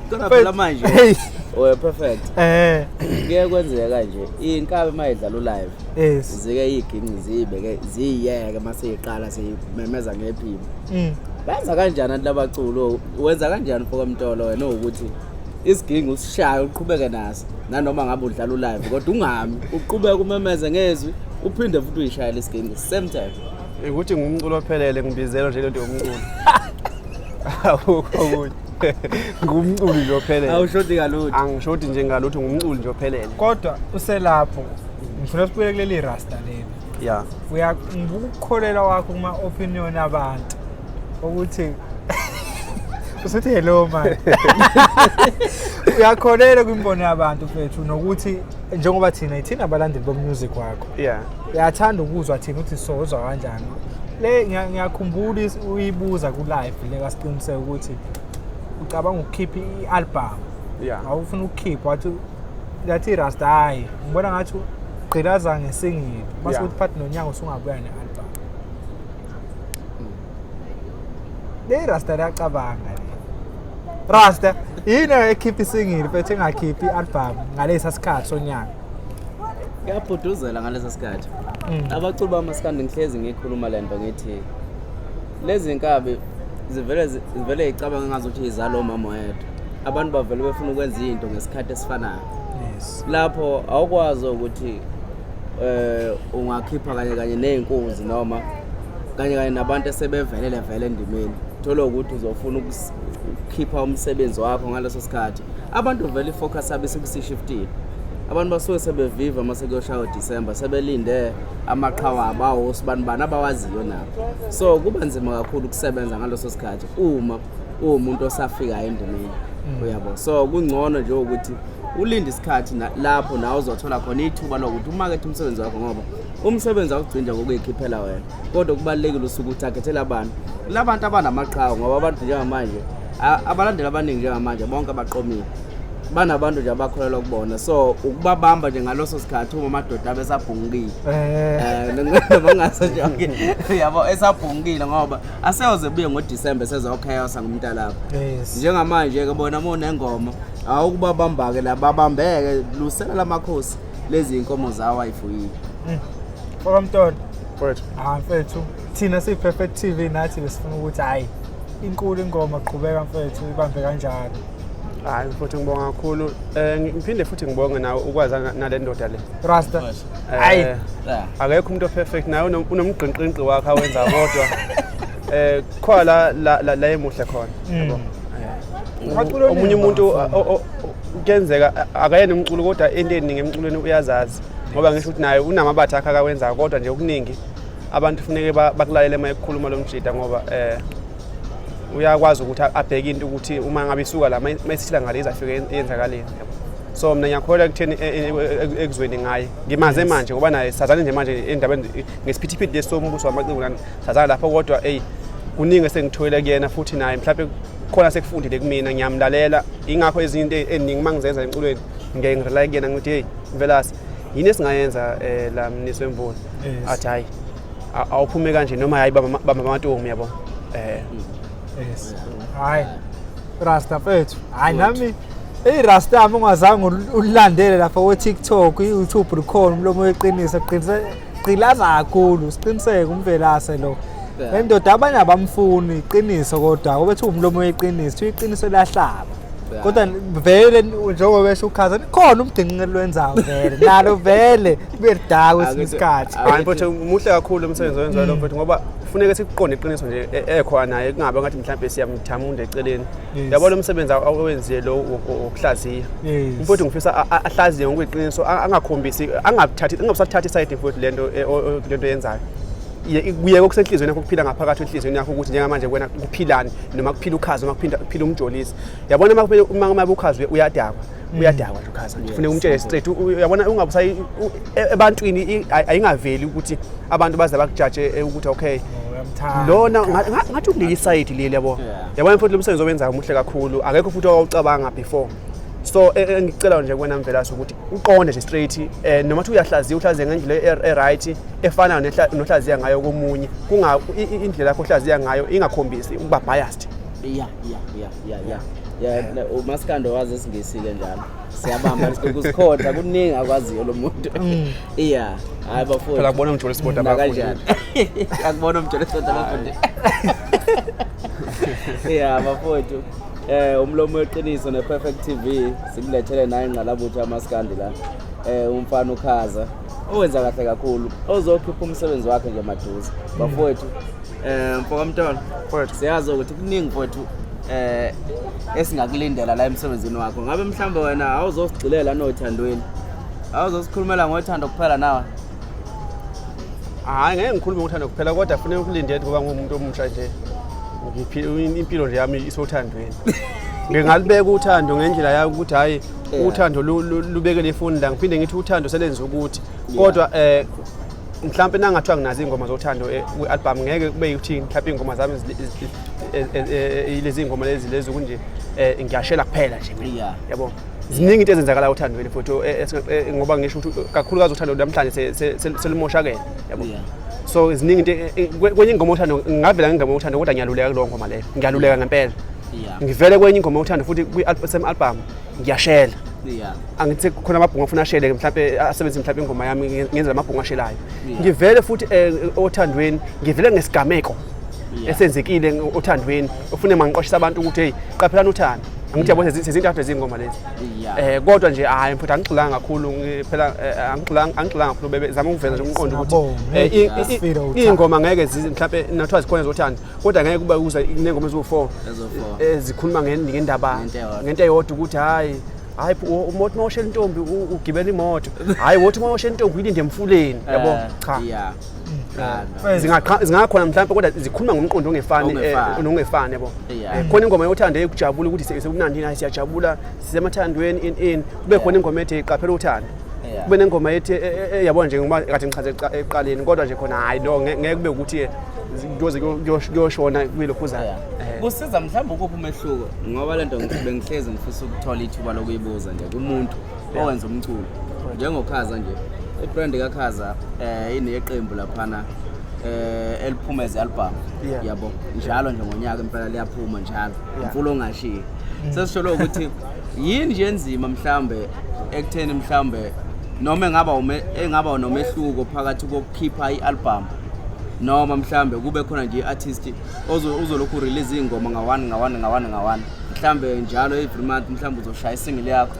Kodwa phela manje Hey. we perfect Eh. kuye kwenzeka kanje inkabi mayidlala ulive Yes. zike iyiginqi ziyibeke ziyiyeke maseyiqala seyimemeza ngephimbo Mm. benza kanjani abantu labaculo wenza kanjani mfoka mtolo wena ukuthi isigingi usishaye uqhubeke naso nanoma ngabe udlala ulive kodwa ungami uqhubeke umemeze ngezwi uphinde futhi uyishayele isigingi same time ukuthi ngumculo ophelele ngibizelwa nje lento yomculo akukho okunye ngumculi nje ophelele awushodi kalutho angishodi nje ngalutho ngumculi nje ophelele kodwa uselapho ngifuna sibuye kuleli rasta leli ya uya ngikukholelwa wakho kuma opinion abantu ukuthi usuthi hello manje uyakholelwa kwimbono yabantu mfethu nokuthi njengoba thina ithina abalandeli bomusic wakho yeah uyathanda ukuzwa thina ukuthi sozwa kanjani le ngiya- ngiyakhumbula is- uyibuza ku-live le kasiqiniseke ukuthi ucabanga ukukhipha i-album Yeah. awufuna ukukhipha wathi yathi irasta hhayi ngibona ngathi ugqilaza ngesingili base Yeah. ukuthi phathi nonyaka usungabuya ne-album le irasta liyacabanga le rasta yini ekhipha isingili phethe engakhiphi i-album ngalesa sikhathi sonyaka kuyabhuduzela ngaleso sikhathi mm. abaculi bamasikandi ngihlezi ngikhuluma le nto ngithi lezi nkabi zivele zivele icabanga ngazuthi izalo mama wethu abantu bavele befuna ukwenza into ngesikhathi esifanayo lapho awukwazi ukuthi eh ungakhipha kanye kanye nezinkunzi noma kanye kanye nabantu esebevelele vele endimeni thola ukuthi uzofuna ukukhipha umsebenzi wakho ngaleso sikhathi abantu vele ifocus abe sekusishiftile abantu basuke sebeviva uma sekuyoshaya December sebelinde amaqhawa abawo sibani bani abawaziyo nabo so kuba nzima kakhulu ukusebenza ngaloso sikhathi uma uwumuntu osafika endimeni mm. uyabo so kungcono nje ukuthi ulinde isikhathi lapho nawe uzothola khona ithuba lokuthi umakethe umsebenzi wakho ngoba umsebenzi awugcini nje ngokuyikhiphela wena kodwa kubalulekile usuke uthakhethele abantu kula bantu abanamaqhawe ngoba abantu njengamanje abalandeli abaningi njengamanje bonke abaqomile banabantu nje abakholelwa kubona so ukubabamba nje ngaloso sikhathi uma amadoda abesabhungile eh. eh, bangaso nje okay yabo esabhungile ngoba aseyoze buye ngoDecember sezochaosa ngumntalapho njengamanje ke bona uma unengoma awukubabambake la babambeke lusela lamakhosi lezi inkomo zawo ayifuyile Mm. Okamntwana. Mfethu. Ah mfethu. Thina siyi Perfect TV nathi besifuna ukuthi hayi inkulu ingoma qhubeka mfethu ibambe kanjalo. Hayi mfuthu ngibonga kakhulu. Eh ngiphinde futhi ngibonge nawe ukwazana nale ndoda le. Rasta. Eh, hayi. Akekho umuntu operfect naye unomgqinqinqi wakhe awenza kodwa. Eh khona la la la emuhle khona. Mm. Eh, omunye umuntu kuyenzeka akayena umculo kodwa into eningi emculweni uyazazi. ngoba ngisho ukuthi naye unamabatha akhe akawenzayo kodwa nje okuningi abantu kufuneke bakulalele uma ekukhuluma lo mjida ngoba um uyakwazi ukuthi abheke into ukuthi uma ngabe isuka la uma isithila ngale izafike yenzakaleni so mina ngiyakholwa ekutheni e, e, e, ekuzweni ngaye ngimaze manje ngoba naye sazane nje manje endabeni ngesiphithiphithi lesi sombuso wamaciko nani sazane lapho kodwa eyi kuningi esengithoyile kuyena futhi naye mhlawumbe khona sekufundile kumina ngiyamlalela ingakho ezinye into eziningi uma ngizenza emculweni ngeke ngirely kuyena ngithi heyi mvelase yini esingayenza um la mnisi wemvula athi hhayi awuphume kanje noma hhayi bamba amatomu yabo um yes hhayi rasta fethu hhayi nami eyi rasta mi ungazange ulandele lapha ko-tiktok i-youtube likhona umlomo weqiniso qinisele gqilaza kakhulu siqiniseke umvelase lo le ndoda abanye abamfuni iqiniso kodwa obethi umlomo weqiniso iqiniso lahlaba kodwa vele njengoba besho ukhaza khona umdinqinqe lwenzayo vele nalo vele kube lidaka kwesinye isikhathi hayi mfowethu muhle kakhulu umsebenzi owenziwayo lo mfowethu ngoba kufuneka sikuqonde iqiniso nje e-, ekhona naye kungabe ngathi mhlawumbe siyamthamunda eceleni Yes. yabona umsebenzi aw- awenziye lo wo- wo- wokuhlaziya Yes. mfowethu ngifisa a- a- ahlaziye ngokweqiniso a- angakhombisi angabuthathi angabusathathi isayidi mfowethu lento e- o- o- lento yenzayo Ye- kuyeke okusenhliziyweni yakho kuphila ngaphakathi enhliziyweni yakho ukuthi njengamanje kuwena kuphilani noma kuphila ukhazi noma kuphinda- kuphila umjolisi yabona uma kuphela- uma uma ukhazi uya- uyadakwa uyadakwa nje ukhaza nje funeka umtshele straight uyabona ungabusayi ebantwini ayingaveli ukuthi abantu baze bakujaje eh, ukuthi okay oh, lona ngathi ukuleli side leli yabo yabona futhi lomsebenzi owenzayo umuhle kakhulu akekho futhi owawucabanga before so e, e, engicela nje kuwena mvelase ukuthi uqonde nje straight eh, noma thi uyahlaziya uhlaziya ngendlela e, e-right efana nohlaziya ngayo komunye kunga indlela yakho ohlaziya ngayo ingakhombisi ukuba biased yeah yeah yeah ya ya ya umaskando wazi esingesike njalo siyabamba ukusikhotha kuningi akwaziyo lo muntu mm. iya hayi bafowethu phela kubona umjolo sport abafundi akubona umjolo sport abafundi iya bafowethu eh umlomo weqiniso ne perfect tv sikulethele naye ingqalabutho amaskandi la eh umfana ukhaza owenza kahle kakhulu ozokhipha umsebenzi wakhe nje maduze bafowethu um mfokamntwana mfowethu siyazi ukuthi kuningi mfowethu eh esingakulindela la emsebenzini wakho ngabe mhlambe wena awuzosigxilela nothandweni awuzosikhulumela ngothando kuphela nawe hayi ngeke ngikhulume ngothando kuphela kodwa funeka ukulinde ngoba ngumuntu omusha nje impilo nje yami isothandweni ngingalibeka uthando ngendlela yami ukuthi hhayi uthando lubeke nefoni la ngiphinde ngithi uthando selenza ukuthi kodwa eh mhlawumbe nangathiwa nginazo iy'ngoma zothando eh, kwi-albhamu ngeke kube yikuthi mhlawumbe iy'ngoma zami eh, eh, lezi y'ngoma lezi lezi kunje um ngiyashela kuphela nje yabo ziningi into ezenzakalayo othandweni futhi ngoba ngisho ukuthi kakhulukazi uthando namhlanje selimoshakele yabo so ziningi into kwenye ingoma othando ngingavela ngengoma othando kodwa ngiyaluleka kulowo ngoma leyo ngiyaluleka ngempela Yeah. ngivele kwenye ingoma yokuthanda futhi kwi-same album ngiyashela Yeah. angithi khona amabhungu afuna ashele mhlawumbe asebenzise mhlawumbe ingoma yami nge- ngenzela amabhungu ashelayo Yeah. ngivele futhi eh, othandweni ngivele ngesigameko Yeah. esenzekile ng- othandweni ufune mangiqwashisa abantu ukuthi hey qaphelani uthando angithi yabo sezi- sezintathu ezingoma lezi Yeah. eh kodwa nje hayi mfuthu angigxilanga kakhulu ngi- phela eh, angigxilanga angigxilanga kakhulu bebe zama ukuveza nje umqondo ukuthi Siyabonga. eh, i- i- Sifile uthando. iy'ngoma ngeke zizi mhlawumbe nathiwa zikhona zothando kodwa ngeke kube kuza inengoma eziwu-four ezikhuluma ngendaba ngento eyodwa ukuthi hhayi hayi umothi uma oshela intombi ugibela imoto hhayi wothi uma oshela intombi uyilinde emfuleni eh, yabo cha mm. zingakhona mhlawumbe kodwa zikhuluma ngomqondo ongefani eh, nongefani yabo eh, khona ingoma yothando eyokujabula ukuthi sekunandini hayi siyajabula sisemathandweni in in kube khona ingoma ethi qaphela uthando kube nengoma ethi eh, eh, eh, yabona nje ngoba kathi ngichaze ekuqaleni kodwa nje khona hayi no ngeke kube ukuthi kuyoze kuyoshona kwilokhu zayo kusiza mhlawumbe ukuphi umehluko ngoba le nto bengihlezi ngifisa ukuthola ithuba lokuyibuza nje kumuntu owenza umculo njengokhaza nje ibrand kakhaza um ineqembu laphana eh eliphuma ezi album yabo njalo nje ngonyaka impela liyaphuma njalo mfulo ongashiyi sesisholo ukuthi yini nje enzima mhlambe ekutheni mhlawumbe noma engaba engaba nomehluko phakathi kokukhipha i-album noma mhlawumbe kube khona nje i-artist uzolokhu urelease iy'ngoma ngawani ngawani ngawani ngawani mhlawumbe njalo every month mhlawumbe uzoshaya isingile yakho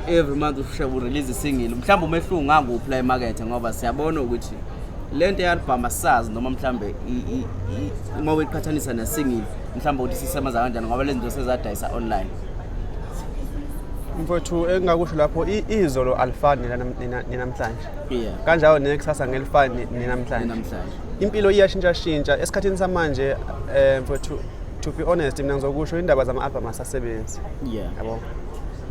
every month urelease isingile mhlawumbe umehluko ngakuphi la emakethe ngoba siyabona ukuthi le nto ye-album asisazi noma mhlawumbe uma uyiqhathanisa nesingile mhlawumbe ukuthi sisebenza kanjani ngoba lezi zinto sezadayisa online mfowethu engingakusho lapho i- izolo alifani nenam- nena- nenamhlanje Yeah. kanjalo nekusasa ngelifani nenamhlanje Namhlanje. impilo iyashintshashintsha esikhathini samanje um mfowethu to be honest mina ngizokusho indaba zama-albhamu asasebenzi Yeah. yabo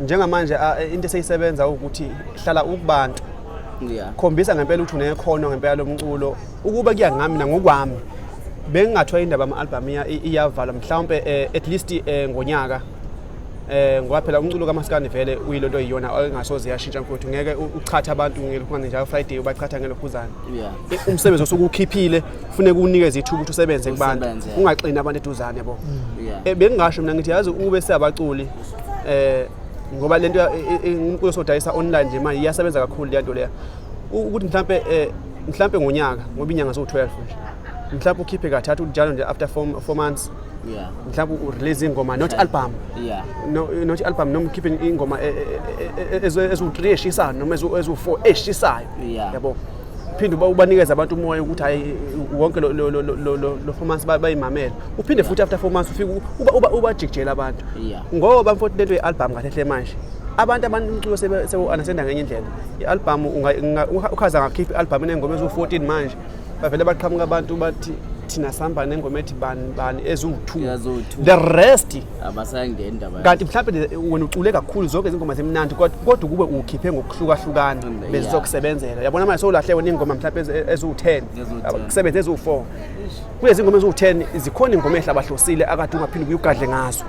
njengamanje a- into eseyisebenza ukuthi hlala ukubantu Yeah. khombisa ngempela ukuthi unekhono ngempela lomculo Ukuba kuya ngami nangokwami bengingathiwa indaba ama-albhamu iyavala mhlawumpe eh, at least eh, ngonyaka eh ngoba phela umculo kamaskani vele uyilonto iyona engasoze yashintsha mfowethu ngeke uchatha abantu ngelokhuzane njalo friday ubachatha ngelokhuzane yeah. umsebenzi osukukhiphile kufuneka unikeze ithuba ukuthi usebenze kubantu ungaxini abantu eduzane bo mm. yeah. Eh, bengingasho mina ngithi yazi ube siyabaculi eh ngoba lento inkulu sodayisa online nje manje iyasebenza kakhulu lento leya ukuthi mhlambe eh mhlawumpe ngonyaka ngoba inyanga ziwu-12 nje mhlawumpe ukhiphe kathathu njalo nje after four, four months yeah mhlawumbe urelease ingoma not album yeah no not album noma ukhiphe ingoma e- e- e- ezu- ezu-3 eshisayo noma ezu- ezu-4 eshisayo Yeah. yabo phinde uba- ubanikeze abantu umoya ukuthi hayi wonke lo- lo- lo- lo- lo- lo four months ba- bayimamele uphinde futhi after four months ufike u- uba- uba- ubajikijele abantu Yeah. ngoba mfoti lento ye-album kahle hle manje abantu abantu umculo sebe- sewu-understanda ngenye indlela i-albhamu ukhaza ngakhipha i-albhamu enengoma eziwu-14 manje bavele baqhamuka abantu bathi thina sihamba nengoma ethi bani bani eziwu-two the rest kanti mhlawumbe wena ucule kakhulu zonke izingoma zimnandi kodwa ukube ukhiphe ngokuhlukahlukana bezizokusebenzela yabona manje sowulahle wena iy'ngoma mhlawumbe eziwu-ten kusebenze eziwu-four kulezi ngoma eziwu-ten zikhona ingoma ehle abahlosile akade ungaphinde ubuye ugadle ngazo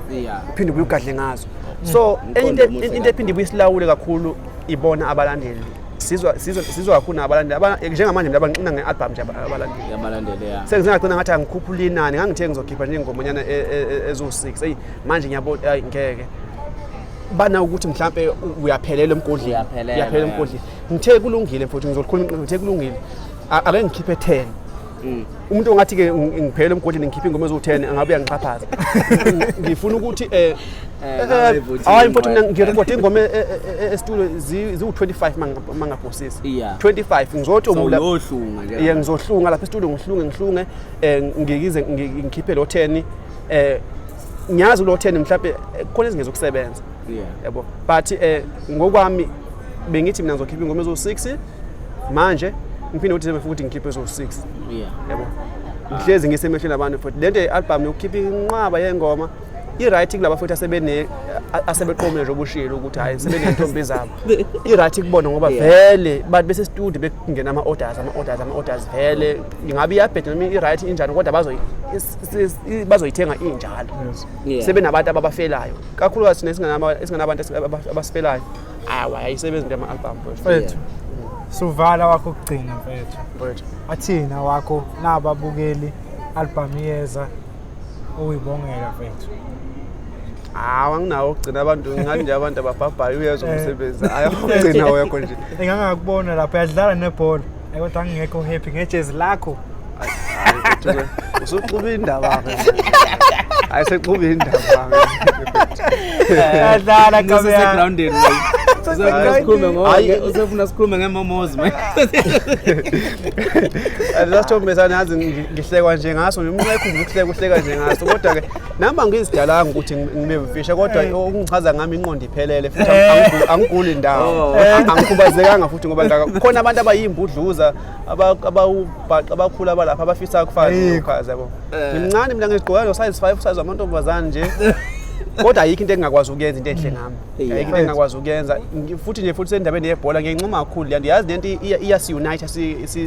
uphinde ubuye ugadle ngazo so into ephinde ibuye isilawule kakhulu ibona abalandeli sizwa sizwa sizwa kakhulu nabalandeli Aba- njengamanje mina banqina nge-album nje aba- abalandeli Yabalandeli ya. sengizengagcina ngathi angikhuphula inani ngangithe ngizokhipha nje ingomanyana e- e- e- eziwu-six eyi manje ngiyabona ayi ngeke bana ukuthi mhlampe u- uyaphelela emgodleni Uyaphelela, uyaphelela yeah. emgodleni ngithe kulungile mfowethu ngizolikhuluma iqiniso, ngithe kulungile A- ake ngikhiphe ten Mm. umuntu ongathi ke ngiphele emgodini ngikhiphe ingoma eziwu-10 angabe uyangixhaphaza ngifuna ukuthi eh, eh, eh, eh hayi mfowethu mina ngirekhode ingoma e, e, e, esitulo ziwu-25 mangaphosisi 25 ngizotoye ngizohlunga lapha esitulo ngihlunge ngihlunge um ngikize ngikhiphe lo 10 um ngiyazi ulo 10 mhlawumbe khona ezingezokusebenza yabo but eh ngokwami bengithi mina ngizokhipha ingoma ezo-6 manje ngiphinde ukuthi sebefuna ukuthi ngikhiphe ezo-6 yabo ngihlezi ngisemehlweni abantu futhi le nto ye-albhamu yokukhipha inqwaba yengoma i-right kulaba futhi asebeqomile nje obushilo ukuthi hhayi sebeney'ntombi zabo i-right kubona ngoba vele bathi besestudio bekungena ama-orders ama-orders ama-orders vele ingabe iyabheda noma i-right injani kodwa bazoyithenga injalo yeah. sebenabantu ababafelayo kakhulukazi sine singanabantu abasifelayo awa ayisebenzi into yama-album mfethu suvala wakho ukugcina mfethu athina wakho nababukeli album iyeza uyibongela mfethu hawu anginawo ukugcina abantu ngathi nje abantu ababhabhayo uyezwa eh. umsebenzi ayokugcina wekho nje engangakubona lapho yadlala nebhola kodwa angingekho happy ngejezi lakho usuxuba indaba ke hayi sexuba indaba Adlala ke Ngisese mina. grounded manje. Uzofuna sikhulume ngo Hayi. uzofuna sikhulume ngemomozi manje. lasithombesana yazi ngi- ngihlekwa nje ngaso nje umuntu ayikhumbuza ukuhleka uhleka nje ngaso kodwa-ke nami angizidalanga ukuthi ngi- ngibe mfisha kodwa okungichaza ngami inqondo iphelele futhi angigu- angiguli ndawo angikhubazekanga futhi ngoba ngaka- khona abantu abayimbudluza abawubhaqa abakhulu abalapha abafisa ukufana nokukhaza yabo eh. ngimncane mina ngigqoka lo size 5 size amantombazane nje kodwa ayikho into engingakwazi ukuyenza into enhle ngami ayikho into engingakwazi ukuyenza futhi nje futhi sendabeni yebhola ngiyincoma kakhulu le nto yazi le nto iyasiunite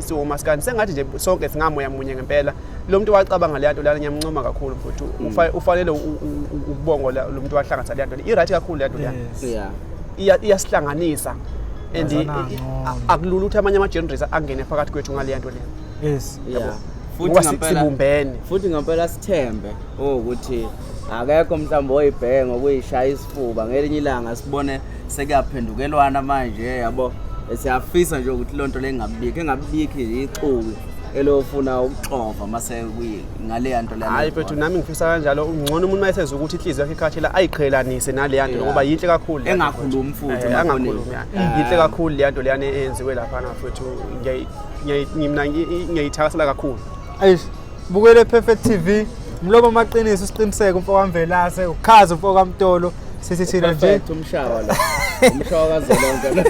siwomasikani sengathi nje sonke singamoya munye ngempela lo muntu wacabanga le nto lana ngiyamncoma kakhulu futhi mm. ufanele ukubongo lo muntu wahlanganisa le nto i-right kakhulu le nto lana iyasihlanganisa and i- Yazana i- ngcono. a- akulula ukuthi amanye ama-genres angene phakathi kwethu ngaleya nto leyo yes Yeah. Futhi ngoba si- ngampela- sibumbene futhi ngampela sithembe ukuthi akekho mhlawumbe oyibheke ngokuyishaya isifuba ngelinye ilanga sibone sekuyaphendukelwana manje yabo siyafisa nje ukuthi loo nto le ingabibikho engabibikho ixuku elo ufuna ukuxova uma sekuyi ngaleya nto leyo hayi mfethu nami ngifisa kanjalo ngcono umuntu uma eseza ukuthi inhliziyo yakhe ikhathela ayiqhelanise naleya nto ngoba yinhle kakhulu le nto. Engakhulumi futhi Eh, emafonini. angakhulumi yani. Ah. yinhle kakhulu leya nto leyana eyenziwe laphana mfethu Ngiyayi- ngiyayi- ngi- mina ngi- i- ngiyayithakasela kakhulu Eish, bukele perfect TV. Mlobo amaqiniso isiqiniseko mfoka Mvelase, ukhazi mfoka Mtolo. Sithi thina nje Perfect umshawa la. Umshawa kazolonke lo.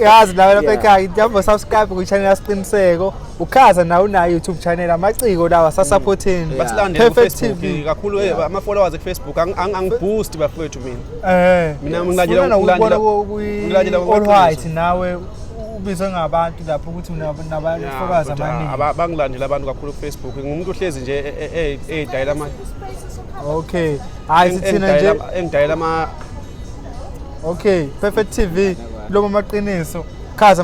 yazi nawe lapha Yeah. ekhaya njengoba subscribe kwichannel yasiqiniseko ukhaza nawe unayo youtube channel amaciko lawa sasaphotheni basilandele Perfect kufacebook TV. kakhulu eh, ama-followers ekufacebook ang- ang- angiboost bafowethu mina Eh, Mina ngilandela- sifuna na ukubona ngilandela- ku- ku- ngilandela all ngokuqiniso. white nawe ubizwe ngabantu lapho ukuthi unab- nabafollowers Kodwa abaningi aba- bangilandela abantu kakhulu kufacebook ngumuntu ohlezi nje e- e- e- edayela ama okay hayi sithina nje engidayela ama okay perfect tv loma maqiniso chaza